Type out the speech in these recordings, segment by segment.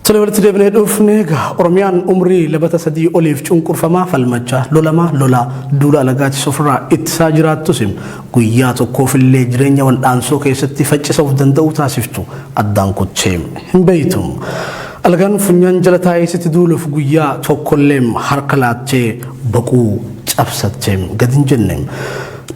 Tole walitti deebinee dhufne egaa Oromiyaan umrii labata sadii oliif cunqurfamaa falmachaa lolamaa lolaa duula alagaatis ofirraa ittisaa jiraattus guyyaa tokkoof illee jireenya wal'aansoo keessatti faccisa of danda'uu taasiftu addaan kuttee hin beektu. Alagaan funyaan jala taa'ee sitti duuluuf guyyaa tokkollee harka laattee boquu cabsattee gadi hin jenne.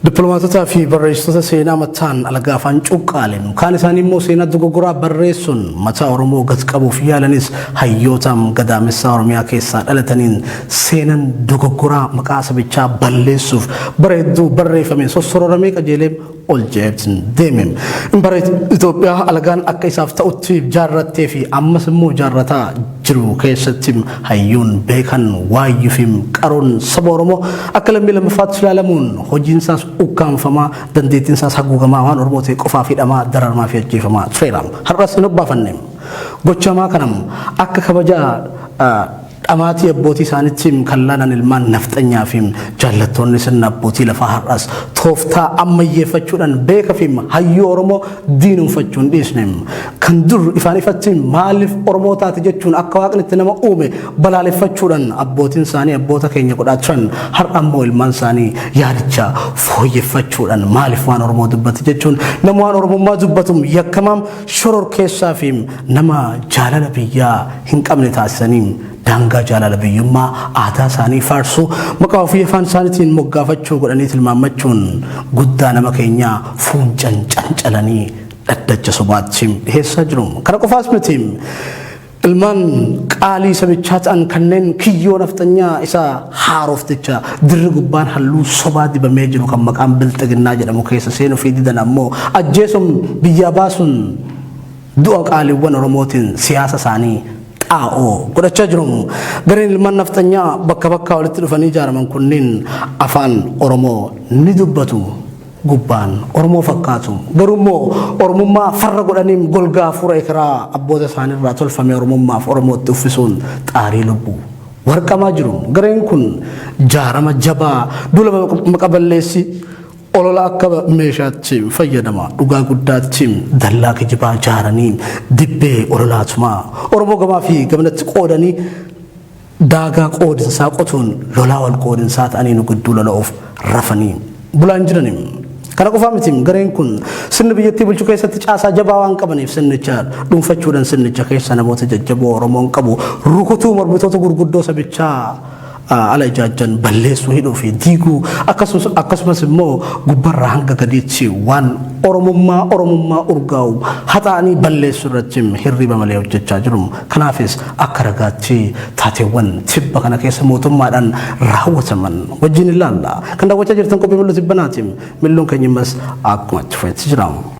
Dippiloomaatotaa fi barreessitoota seenaa mataan alagaa afaan cuqqaalen kaan isaanii immoo seenaa dogoggoraa barreessuun mataa Oromoo gad qabuuf yaalanis hayyootaam gadaamessaa Oromiyaa keessaa dhalataniin seenan dogoggoraa maqaa sabichaa balleessuuf bara hedduu barreeffameen sossororamee qajeelee ol jeetin deemem. Impareet Itoophiyaa alagaan akka isaaf ta'utti jaarrattee fi ammas immoo jaarrataa jiru keessatti hayyuun, beekan, waayyuufi qaroon saba Oromoo akka lammii lammaffaatti ilaalamuun hojiinsaas ukkaamfamaa, dandeettiinsaas haguugamaa waan Oromoo ta'e qofaaf hidhamaa, dararmaafi ajjeefamaa tureera. Har'as hin obbaafanne. Gocha hamaa kana akka kabaja dhamaatii abbootii isaaniitti kan laalan ilmaan nafxanyaafi jaallattoonni sirna abbootii lafaa har'as tooftaa ammayyeeffachuudhaan beekafi hayyuu Oromoo diinomfachuu hin dhiisne. Kan dur ifaan ifatti maaliif Oromoo taate jechuun akka waaqni itti nama uume balaaleffachuudhaan abbootiin isaanii abboota keenya godhaa turan har'a immoo ilmaan isaanii yaadicha fooyyeffachuudhaan maaliif waan Oromoo dubbate jechuun nama waan Oromummaa dubbatu yakkamaam shoror keessaa fi nama jaalala biyyaa hin qabne taasisanii daangaa jaalala biyyummaa aadaa isaanii faarsuu maqaa ofii afaan isaaniitiin moggaafachuu godhanii tilmaammachuun guddaa nama keenyaa fuuncan cancalanii dhaddacha sobaatti dhiheessaa jiru. Kana qofaas miti ilmaan qaalii sabichaa ta'an kanneen kiyyoo nafxanyaa isa haarofticha dirri gubbaan halluu sobaa dibamee jiru kan maqaan bilxiginnaa jedhamu keessa seenuu fi didan ammoo ajjeesuun biyyaa baasuun du'a qaaliiwwan Oromootiin siyaasa isaanii xaa'oo godhachaa jiru. Gareen ilmaan nafxanyaa bakka bakkaa walitti dhufanii ijaaraman kunneen afaan Oromoo ni dubbatu. Gubbaan Oromoo fakkaatu. Garuu immoo Oromummaa farra godhaniin golgaa hafuura ekeraa abboota isaaniirraa tolfame Oromummaaf Oromootti uffisuun xaarii lubbuu. Warqamaa jiru. Gareen kun jaarama jabaa duula maqaballeessi Olola akka meeshaatti fayyadama dhugaa guddaatti dallaa kijibaa jaaranii dibbee ololaa tumaa Oromoo gamaa fi gamanatti qoodanii daagaa qoodinsaa qotuun lolaa wal qoodinsaa ta'anii nu gidduu lola'uuf rafanii bulaan jiranii. Kana qofaa miti gareen kun sirni biyyattii bulchuu keessatti caasaa jabaa waan qabaniif sirnicha dhuunfachuudhaan sirnicha keessa namoota jajjaboo Oromoon qabu rukutuu mormitoota gurguddoo sabichaa ala ijaajjan balleessuu, hidhuu fi diiguu akkasumas akkasumas immoo gubbarraa hanga gadiitti waan Oromummaa Oromummaa urgaa'u haxaa'anii balleessuu irratti hirriiba malee hojjechaa jiru. Kanaafis akka ragaatti taateewwan tibba kana keessa mootummaadhaan raawwataman wajjin ilaalla. Kan daawwachaa jirtan qophii Mil'uu Tibbanaati. Mil'uun keenya ammas akkuma itti fufetti jira.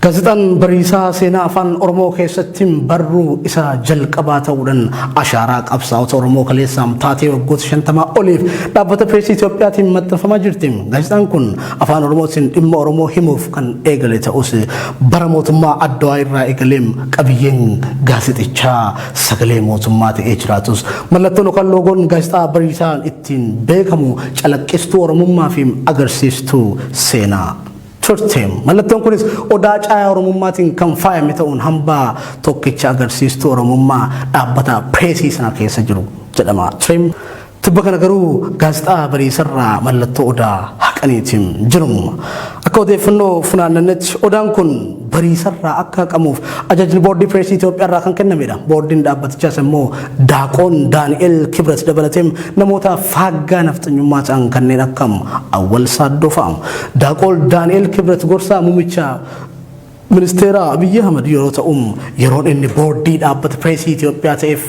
Gaazexaan Bariisaa seenaa Afaan Oromoo keessatti barruu isa jalqabaa ta'uudhaan ashaaraa qabsaa'ota Oromoo kaleessaam taatee waggoota shantamaa oliif dhaabbata Pireesii Itoophiyaatiin maxxanfamaa jirti. Gaazexaan kun Afaan Oromootiin dhimma Oromoo himuuf kan eegale ta'us bara mootummaa Addawaa irraa eegaleem qabiyyeen gaazexichaa sagalee mootummaa ta'ee jiraatus mallattoon yookaan loogoon gaazexaa Bariisaan ittiin beekamu calaqqistuu Oromummaa fi agarsiistuu seenaa. turte. Mallattoon kunis odaa caayaa Oromummaatiin kan faayame ta'uun hambaa tokkicha agarsiistuu Oromummaa dhaabbata pireesii sana keessa jiru jedhama ture. Tibba kana garuu gaazexaa bariisarraa mallattoo odaa haqaniiti jiru. Akka odeeffannoo funaannannetti odaan kun bariisarraa akka haqamuuf ajajni boordii pireesii Itoophiyaarraa kan kennamedha. Boordiin dhaabbatichaas immoo Daaqoon Daani'el Kibrat dabalatee namoota faaggaa nafxanyummaa ta'an kanneen akka Awwal Saaddoo fa'a. Daaqool Daani'el Kibrat gorsaa muummicha ministeera Abiyyi Ahmad yeroo ta'u yeroon inni boordii dhaabbata pireesii Itoophiyaa ta'eef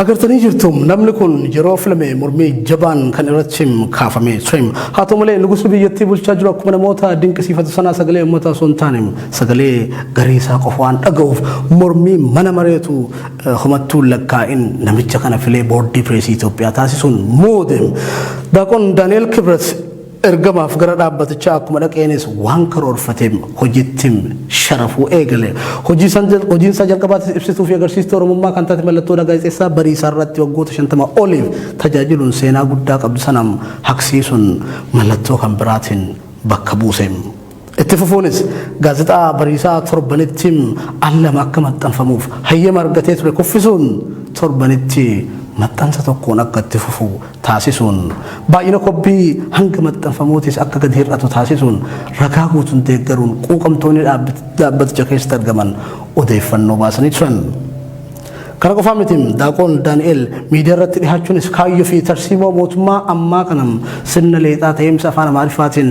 Agartanii jirtum namni kun yeroo filame mormii jabaan kan irratti kaafame soim. Haa ta'u malee nugusa biyyattii bulchaa jiru akkuma namoota dinqisiifatu sanaa sagalee uummataa osoo hin taane sagalee garee isaa qofa waan dhaga'uuf mormii mana mareetu homattuu lakkaa'in namicha kana filee boordii pireesii Itoophiyaa taasisuun muudem. Daaqon Daani'el Kibrat Ergamaaf gara dhaabbatichaa akkuma dhaqeenis waan karoorfateem hojittim sharafuu eegale. Hojiinsaa jalqabaatis ibsituu fi agarsiistuu Oromummaa kan taate mallattoodha Gaazexeessaa Bariisaa irratti waggoota 50 oliif tajaajiluun seenaa guddaa qabdu sanam haqsiisuun mallattoo kan biraatiin bakka buuseem. Itti fufuunis gaazexaa Bariisaa torbanitti al lama akka maxxanfamuuf hayyama argatee ture kuffisuun torbanitti maxxansa tokkoon akka itti fufu taasisuun baay'ina kobbii hanga maxxanfamuutis akka gadi hir'atu taasisuun ragaa guutuun deeggaruun quuqamtoonni dhaabbaticha keessatti argaman odeeffannoo baasanii turan. Kana qofaa miti daaqoon Daani'el miidiyaa irratti dhihaachuunis kaayyoo fi tarsiimoo mootummaa ammaa kana sirna leexaa ta'eemsa afaan Amaariffaatiin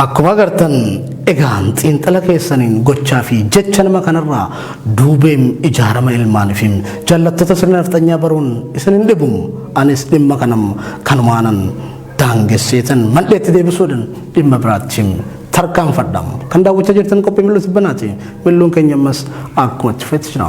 Akkuma agartan egaan xiinxala keessaniin gochaa fi jecha nama kanarraa duubeem ijaarama ilmaan fi jallattota sirna nafxanyaa baruun isin hin dhibu. Anis dhimma kanam kanumaanan daangesseetan mandheetti deebisuudhan dhimma biraatti tarkaanfadha. Kan daawwachaa jirtan qophii mil'uu tibbanaati. Mil'uun keenya ammas akkuma itti fufetti jira.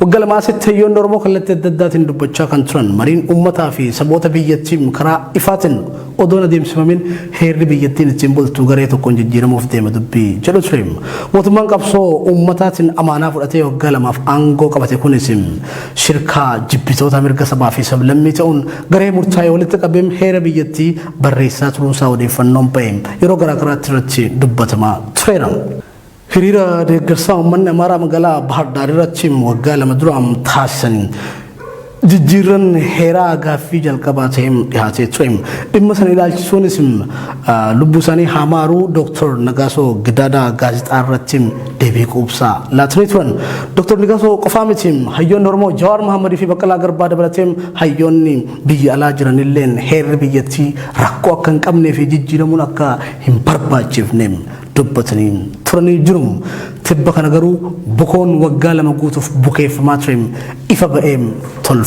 Wagga lamaa asitti hayyoonni Oromoo kallattii adda addaatiin dubbachaa kan turan mariin uummataa fi saboota biyyattii karaa ifaatiin odoon adeemsifamin heerri biyyattiin ittiin bultu garee tokkoon jijjiiramuuf deema dubbii jedhu ture. Mootummaan qabsoo uummataatiin amaanaa fudhatee waggaa lamaaf aangoo qabate kunis shirkaa jibbitoota mirga sabaa fi sablammii ta'uun garee murtaa'e walitti qabeem heera biyyattii barreessaa turuunsaa odeeffannoon ba'e yeroo garaagaraatti irratti dubbatamaa tureera. Hiriira deeggarsaa uummanni Amaaraa magaalaa Bahar Daar irratti waggaa lama dura taasisan jijjiirranni heeraa gaaffii jalqabaa ta'ee dhihaatee ture. Dhimma sana ilaalchisuunis lubbuu isaanii haa maaruu Dooktar Nagaasoo Gidaadaa gaazexaa irratti deebii quubsaa laatanii turan. Dooktar Nagaasoo qofaa miti hayyoonni Oromoo Jawaar Mahammadii fi Baqqalaa Garbaa dabalatee hayyoonni biyya alaa jiranilleen heerri biyyattii rakkoo akka hin qabnee fi jijjiiramuun akka hin barbaachifne dubbataniin turanii jiru. Tibba kana garuu bukoon waggaa lama guutuuf bukeeffamaa ture ifa ba'ee tolfame.